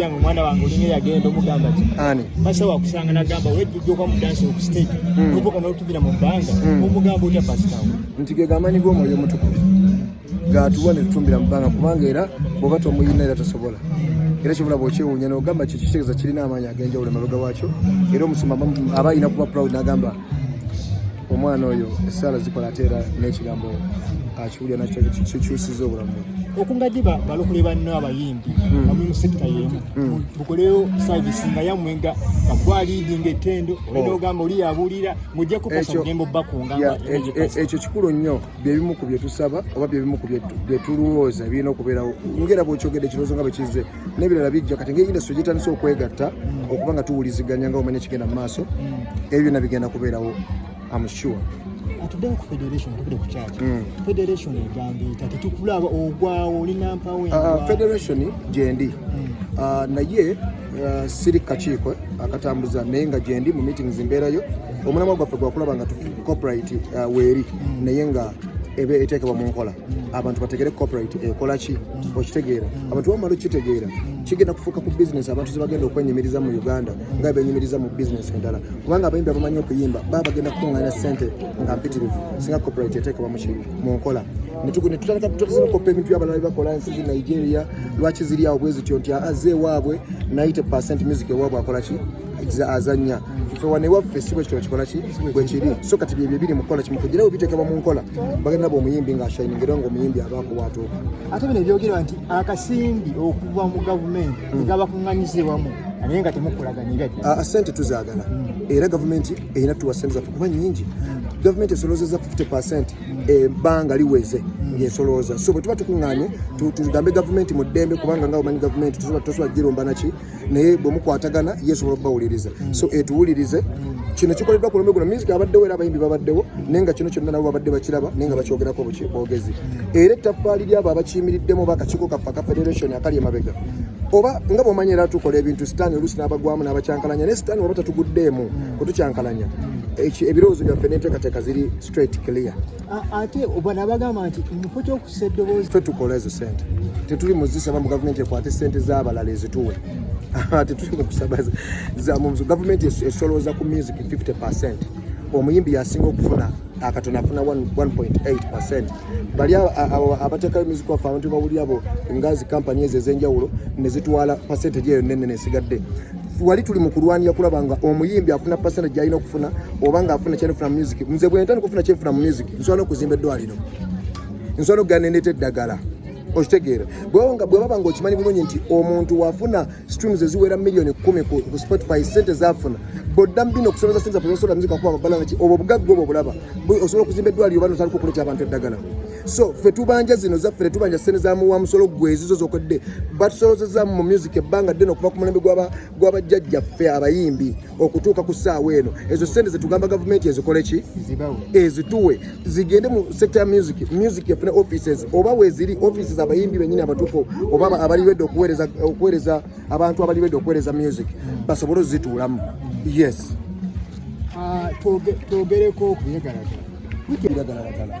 yange omwana wange olinga yagenda omugamba ti ani pasa wakusanga nagamba wejjujja okwa mudansi oku stage hmm. obuka notubira mu bbanga hmm. omugamba otya pasitawo nti ge gamanyi g'omwoyo omutukuvu gatuwa ne tutumbira mu bbanga kubanga era bwoba tomuyina era tosobola era kyobola bwokyewuunya nogamba kyo kitegeeza kirina amaanyi ag'enjawulo emabega wakyo era omusumba aba alina kuba proud nagamba omwana oyo esaala zikola ate era n'ekigambo akiwulira nakyo kikyusiza obulamu okungadde balokole banno abayimbi hmm. amu mu sekita yemu hmm. bukoleyo savisi nga yamwe nga bakwaliidi nga ettendo oh. olina ogamba oli yabuulira mujja kukosa mugembo bakunga e- e- ekyo kikulu nnyo byebimu ku byetusaba oba byebimu ku byetulwooza birina okubeerawo ngera bwekyogedde ekirowoozo nga bwekizze n'ebirala bijja kati ngeri industry gyetandise okwegatta mm. okuba nga tuwuliziganya nga omanya kigenda mu maaso mm. ebyo byonna bigenda kubeerawo am sure atuddewo ku federation atukire ku kyaki mm. federation egambiita tetukulaba ogwawo olina mpawo ah, federation gyendi ah, naye ah, siri kakiiko akatambuza naye nga gyendi mu meetings mbeerayo omulamwa gwaffe gwakulaba nga corporate weeri naye nga ebe eteekebwa mu nkola abantu bategere corporate ekola ki mm. okitegeera mm. abantu bamala okitegeera mm. kigenda kufuuka ku business abantu zebagenda okwenyumiriza mu uganda nga benyumiriza mu business endala kubanga abayimbi abamanyi okuyimba baba bagenda kukuŋŋaana sente nga mpitirivu singa corporate eteekebwa mu nkola netutandika tutandisa nokoppa ebintu byabalala byebakola ensi zi nigeria lwaki ziri awo bwezityo nti aze ewaabwe naye te percent music ewaabwe akola ki azanya fe wano ewaffe si bwekitona kikola ki bwekiri so kati byebyo biri mukukola kimu kugira nawe bitekebwa mu nkola bagenda nabo omuyimbi nga ashayininga era nga omuyimbi abaako waatuuka ate bino ebyogerwa nti akasimbi okuva mu gavumenti hmm. egabakuŋŋanyize wamu naye nga temukolaganya ah, ah, sente tuzagala hmm. era gavumenti erina tuwa sente zaffe kuba nyingi hmm. gavumenti esolozeza 50 percent ebbanga liweze yesolooza so bwetuba tukuŋŋanye tugambe gavumenti mu ddembe kubanga nga omanyi gavumenti tosobola giromba naki naye bwe mukwatagana ye sobola okubawuliriza mm. so etuwulirize mm. kino kikoleddwa ku lumbe guno music abaddewo era abayimbi babaddewo naye nga kino kyonna nabo babadde bakiraba naye nga bakyogerako bogezi mm. era ettaffaali lyabo abakiyimiriddemu oba akakiiko kaffe aka federation akali emabega oba nga bwomanyi era tukola ebintu sitaani oluusi n'abagwamu n'abakyankalanya naye sitaani oba tatuguddeemu kutukyankalanya ebirowoozo byaffe n'enteekateeka ziri straight clear ate bana bagamba nti mufo kyokussa eddoboozi fe tukola ezo sente tetuli muzisaba mu gavumenti ekwate sente zabalala ezituwe tetuli mukusaba zamuzo gavumenti esolooza ku music 50 percent omuyimbi yasinga okufuna akatono afuna 1.8 percent bali abatekayo music waffe abantu bawuli abo ngazi kampani ezo ezenjawulo nezitwala percentage eyo nene nesigadde wali tuli mu kulwanira kulaba nga omuyimbi afuna pasena gyalina okufuna oba nga afuna kyenfuna music nze bwentandika okufuna kyenfuna mu music nsobola okuzimba eddwaliro nsobola okugana endeeta eddagala okitegeera bwewanga bwebaba nga okimanyi bulungi nti omuntu wafuna streams eziwera millioni kumi ku spotify sente zafuna bodda mubino okusomeza sente zafunasobola muzika kuba babalanga ki obwo obugagga obwo obulaba osobola okuzimba eddwaliro oba notandika okuleta abantu eddagala so fe tubanja zino zaffe tetubanja sente za muwa musolo gwe ezizo zokedde batusolozeza mu music ebbanga ddene okuva ku mulembe gwabajjajja ffe abayimbi okutuuka ku ssaawa eno ezo sente zetugamba gavumenti ezikole ki ezituwe zigende mu sector ya music music efune offices oba weziri offices abayimbi benyini abatuufu oba abaliredde okuweereza abantu abaliredde okuweereza music basobole ozituulamu yes ah, twogereko okuyagalagala